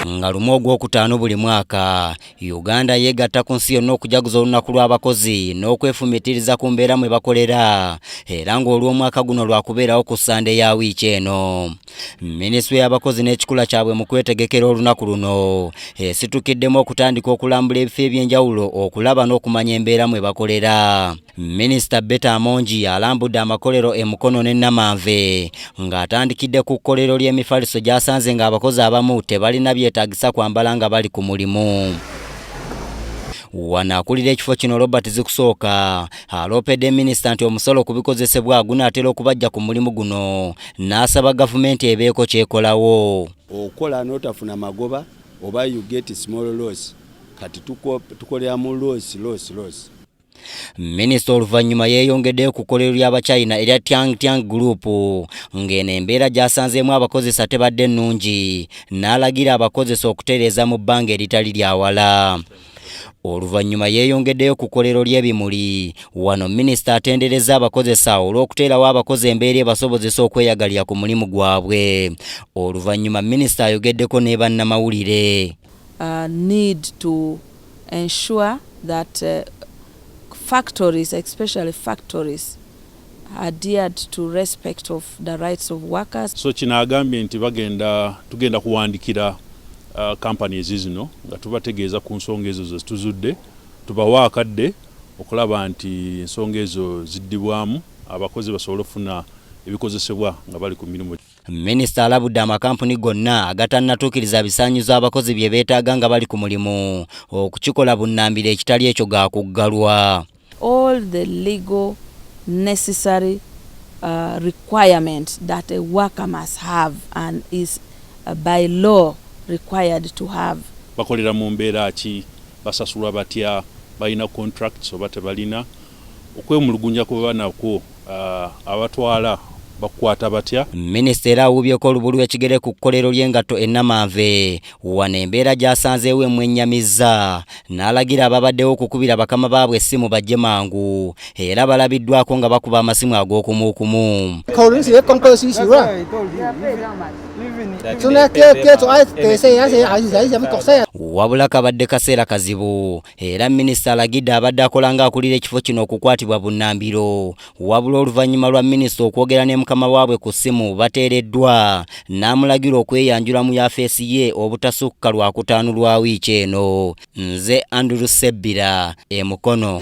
nga lumu ogwokutaano buli mwaka uganda yeegatta ku nsi yonna okujaguza olunaku lw'abakozi n'okwefumitiriza ku mbeera mwe bakolera era ng'olw'omwaka guno lwakubeerawo ku ssande ya wiiki eno minisitule y'abakozi n'ekikula kyabwe mu kwetegekera olunaku luno esitukiddemu okutandika okulambula ebifo eby'enjawulo okulaba n'okumanya embeera mwe bakolera Minisita Beta Amongi alambudde amakolero e Mukono ne Namanve ng'atandikidde ku kkolero ly'emifaliso gy'asanze ng'abakozi abamu tebalina byetaagisa kwambala nga bali ku mulimu. Wano akulira ekifo kino Robert Zikusooka aloopedde minisita nti omusolo ku bikozesebwa gunaatera okubajja ku mulimu guno n'asaba gavumenti ebeeko kyekolawo. Okola n'otafuna magoba oba you get small loss kati tukolera mu loss loss loss. Minisita oluvannyuma yeeyongedde ku kkolero ly'Abachina erya Tiang Tiang Group ng'eno embeera gy'asanzeemu abakozesa tebadde nnungi n'alagira abakozesa okutereeza mu bbanga eritali lya wala. Oluvannyuma yeeyongeddeyo ku kkolero ly'ebimuli. Wano minisita atenderezza abakozesa olw'okuteerawo abakozi embeera ebasobozesa okweyagalira ku mulimu gwabwe. Oluvannyuma minisita ayogeddeko ne bannamawulire. Uh, ensure that factories especially factories adhered to respect of the rights of workers. So kino agambye nti bagenda tugenda kuwandikira uh, companies zino nga tubategeeza ku nsonga ezo zezituzudde tubawa akadde okulaba nti ensonga ezo ziddibwamu abakozi basobole okufuna ebikozesebwa nga bali ku mirimu Minisita alabudde amakampuni gonna agatannatuukiriza bisaanyizo abakozi bye beetaaga nga bali ku mulimu okukikola bunnambiro ekitali ekyo ga kuggalwa. All the legal necessary uh, requirement that a worker must have and is uh, by law required to have. Bakolera mu mbeera ki? Basasulwa batya? Balina contracts oba tebalina? okwemulugunya kw'oba nakwo abatwala bakukwata batya? Minisita era awuubyeko olubu lw'ekigere ku kkolero ly'engatto e Namanve wano embeera gy'asanzeewo emwennyamizza n'alagira ababaddewo okukubira bakama baabwe essimu bajje mangu era balabiddwako nga bakuba amasimu ag'okumuukumu. wabula kabadde kaseera kazibu era minisita alagidde abadde akola ng'akulira ekifo kino okukwatibwa bunnambiro wabula oluvannyuma lwa minisita okwogera ne mukama waabwe ku ssimu bateereddwa n'amulagira okweyanjula mu yafeesi ye obutasukka lwa kutaano lwa wiiki eno nze andrew sebbira e mukono